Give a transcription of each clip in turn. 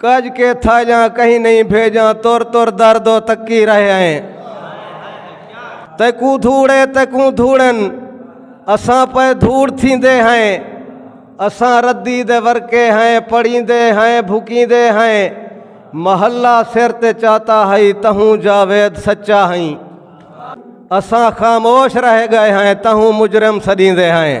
کج کے تھا جاں کہیں نہیں بھیجاں تر تر درد و تکی رہے ہیں تیکوں دھوڑے تیکوں دھوڑن اساں پہ دھوڑ تھی دے ہیں اساں ردی دے ورکے ہیں پڑی دے ہیں بھکی دے ہیں محلہ سر تے چاہتا ہائی تہوں جاوید سچا ہائی اساں خاموش رہ گئے ہیں تہوں مجرم سدی دے ہیں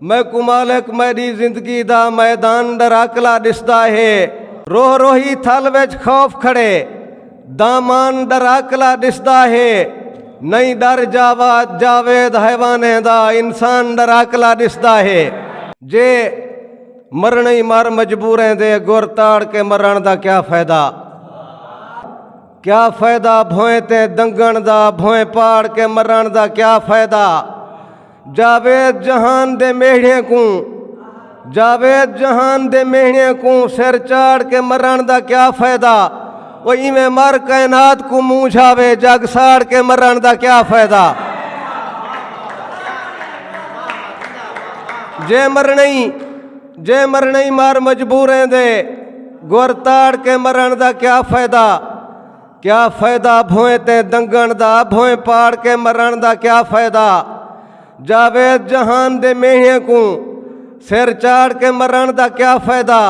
میکوں مالک میڈی زندگی دا میدان ڈراکلا ڈسدا ہے روح روحی تھل وچ خوف کھڑے دامان ڈراکلا ڈسدا ہے نہیں ڈر جاواد جاوید حیوانے دا انسان ڈراکلا ڈسدا ہے جے مرنی مر مجبوریں دے گر تاڑ کے مرن دا کیا فائدہ کیا فائدہ بھوئیں تے دنگن دا بھوئیں پاڑ کے مرن دا کیا فائدہ جاوید جہان دے میڑھے کوں جاوید جہان دے میڑھے کوں سر چاڑ کے مرن دا کیا فائدہ وہ ایویں مر کائنات کو منہ جاوے جگ ساڑ کے مرن دا کیا فائدہ جے مرنئی جے مرنئی مار مجبوریں دے گور تاڑ کے مرن دا کیا فائدہ کیا فائدہ بھوئیں تے دنگن دا بھوئیں پاڑ کے مرن دا کیا فائدہ جاوید جہان دے میہیاں کو سر چاڑ کے مرن دا کیا فائدہ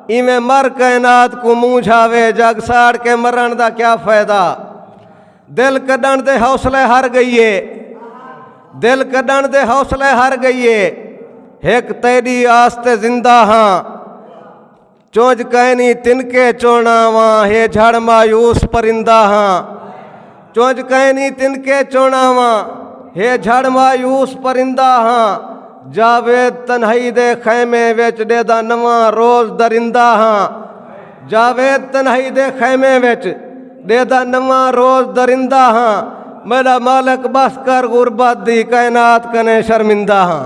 ایویں مر کائنات کو منہ جھاوے جگ ساڑ کے مرن دا کیا فائدہ دل کڈن دے حوصلے ہر گئیے دل کڈن دے حوصلے ہر گئیے ایک تیری آستے زندہ ہاں چوج کینی تنکے چونا واں ہے جھڑ مایوس پرندہ ہاں چوج کینی تنکے چونا واں ہے جھڑ مایوس پرندہ ہاں جاوید تنہائی دے خیمے وچ ڈے دا نواں روز درندہ ہاں جاوید تنہائی دے خیمے وچ ڈے دا نواں روز درندہ ہاں میرا مالک بس کر غربت دی کائنات کنے شرمندہ ہاں